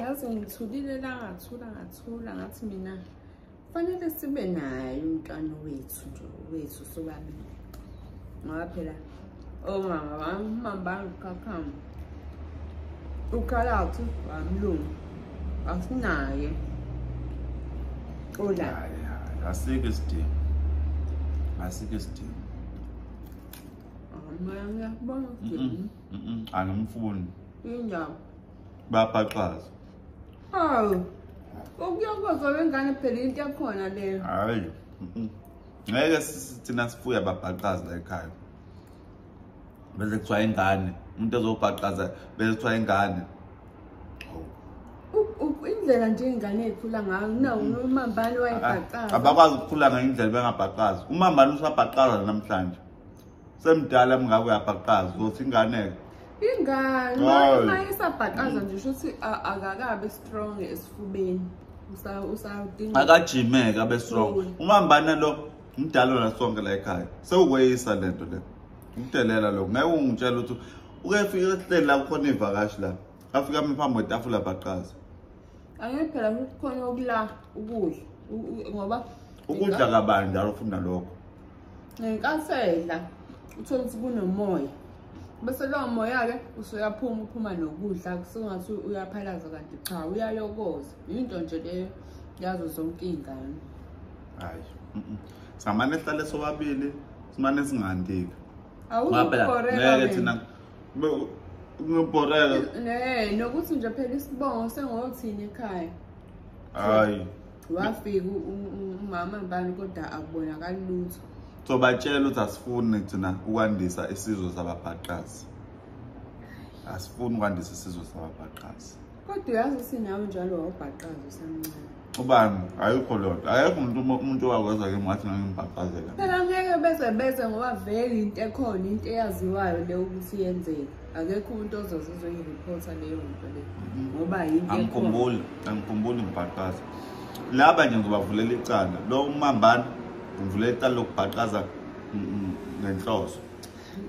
yazi ngithulile la ngathula ngathula ngathi mina kufanele sibe naye umntwana wethu nje wethu sobabili ngoba phela omama oh, wami umama bangikhakhama ukhalawuthi wamlungu asinaye olayo asikho isidingo asikho isidingo angimfuni indawo babhaxaza hawu ukuyokozwa wengane phela into yakhona leyo hayi ngeke thina sifuya babhaxaza la ekhaya bese kuthiwa ingane umuntu ezobhaxaza bese kuthiwa ingane indlela nje ingane ekhula ngayo nawo umambani wayebhaqaza abakwazi ukukhula ngayindlela bengabhaqazi umambani usabhaqaza namhlanje semdala mngako uyabhaqaza uzothi ingane-ke ingane uma isabhaqaza nje usho ukuthi akakabe strong esifubeni akajimeke abe strong umambana lo mdala wona sonke la ekhaya sewukweyisa le nto le ukudelela lokho ngeke ungitshela ukuthi ukefika ehleli la kukhona iy'vakashi la afika mi phambi kwetafula baqaza angeke phela kukhona okula ukudla ngoba ukudla kabani njalo ufuna lokho ngenkathi edla uthole ukuthi kunomoya bese lowo moya-ke usuyaphuma uphuma nokudla kusengathi uyaphalaza kanti cha uyalokoza yinto nje leyo yazo zonke iy'ngane hayi samane sihlale sobabili simane singandika awukoreka thina ngibhoreka nokuthi nje phela isibongo sengothini ekhaya hayi wafika umama mbani kodwa akubonakali lutho so batshela ukuthi asifuni thina ukwandisa isizwe sababhaqazi asifuni ukwandisa isizwe sababhaqazi kodwa uyazi ukuthi nawe njalo wawubhaqazi usamncane ubani ayikho loo nto ayekho umuntu umuntu owakwenza ke ngathi nangimbhaqazela phela ngeke beze beze ngoba vele into ekhona into eyaziwayo le ukuthi yenzeka akekho umuntu ozoze uzoyirephotha leyo nto le ngoba yinto angikhumbuli angikhumbuli ngibhaqaza laba nje ngizobavulela icala lo umambana ngivulela icala lokubhaqaza ngenhloso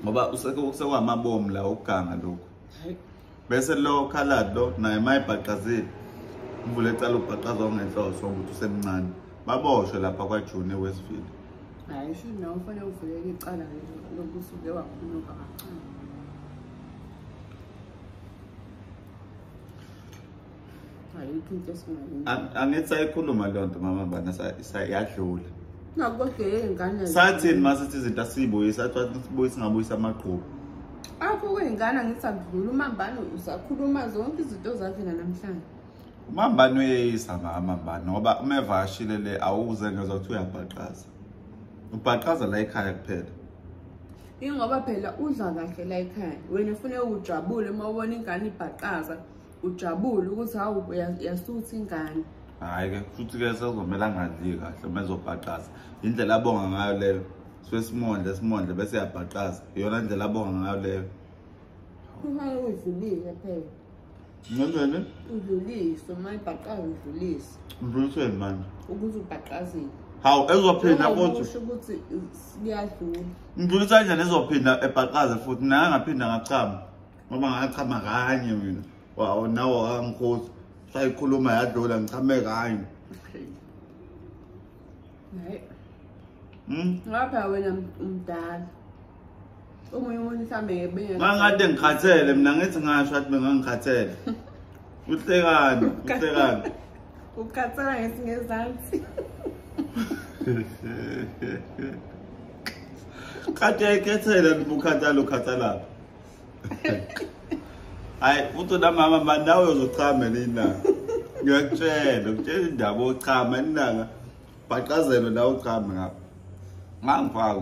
ngoba usekuwamabomu la ukuganga lokhu bese lo khalad lo naye mayebhaqazile ngivule icala ukubhaqaza ongenhloso ukuthi usemncane baboshwe lapha kwajune westville hayi sho nawe ufanele uvuleke icala lokusuke wakhuluka kancane angithi sayikhuluma leyo nto mama bana yadlula sathini ma sithi izinto asiyibuyisa athiwa singabuyisa amagqubu akho kwey'ngane angithi akudlula umambane usakhuluma zonke izinto zakhe nanamhlanje Umambani uyeyisa mama mba ngoba uma evashile le awuze ngezwa ukuthi uyabhaqaza. Ubhaqaza la ekhaya kuphela. Ingoba phela udla kahle la ekhaya. Wena ufune ujabule uma ubona ingane ibhaqaza, ujabule ukuthi hawu yasuthi ingane. Hayi ke futhi ke sezomela ngadli kahle uma ezobhaqaza. Indlela abonga ngayo leyo. Swesimondle simondle bese yabhaqaza. Iyona indlela abonga ngayo leyo. Uma uyivulile phela. Ngendlele? Udlulise, uma ibhaqaza udlulise. Udluliseni manje? Ukuthi ubhaqazile. Hawu, ezophinda futhi. Usho ukuthi siyadlula. Ngidlulisa kanjani ezophinda ebhaqaze futhi naye ngaphinda ngachama. Ngoba ngachama kanye mina. Wawu nawo akangikhosi. Sayikhuluma yadlula ngichame kanye. Okay. Naye. Hmm? Ngapha wena umdala. omunye umuntu mhlawumbe ngekade ngikhathele mina ngithi ngasho athi bengangikhathele uhlekani uhlekani ukhathela ngesingezansi kade yayikhethela ukhathalo ukhathalapho hayi futhi unamama mani nawe uzochama nina ngiyakutshela ngitshela indaba ochama inanga bhaqazelwe nawe uchame ngapho ngangifaka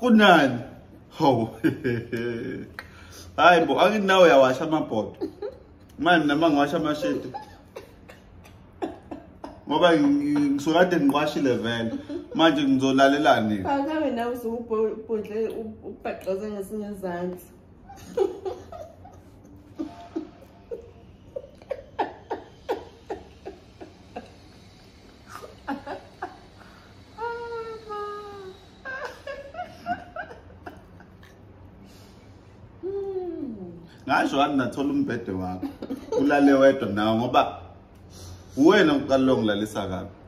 kunani hawu hayi bo angithi nawe uyawasha amabhodo mani nama ngiwasha amasheti ngoba ngisukade ngiwashile vele manje ngizolalelani akabe nawe usukubhodle ubhaxoze ngesinye izandla ngasho wami nathola umbhede wakho ulale wedwa nawo ngoba uwena uqalile ongilalisa kabi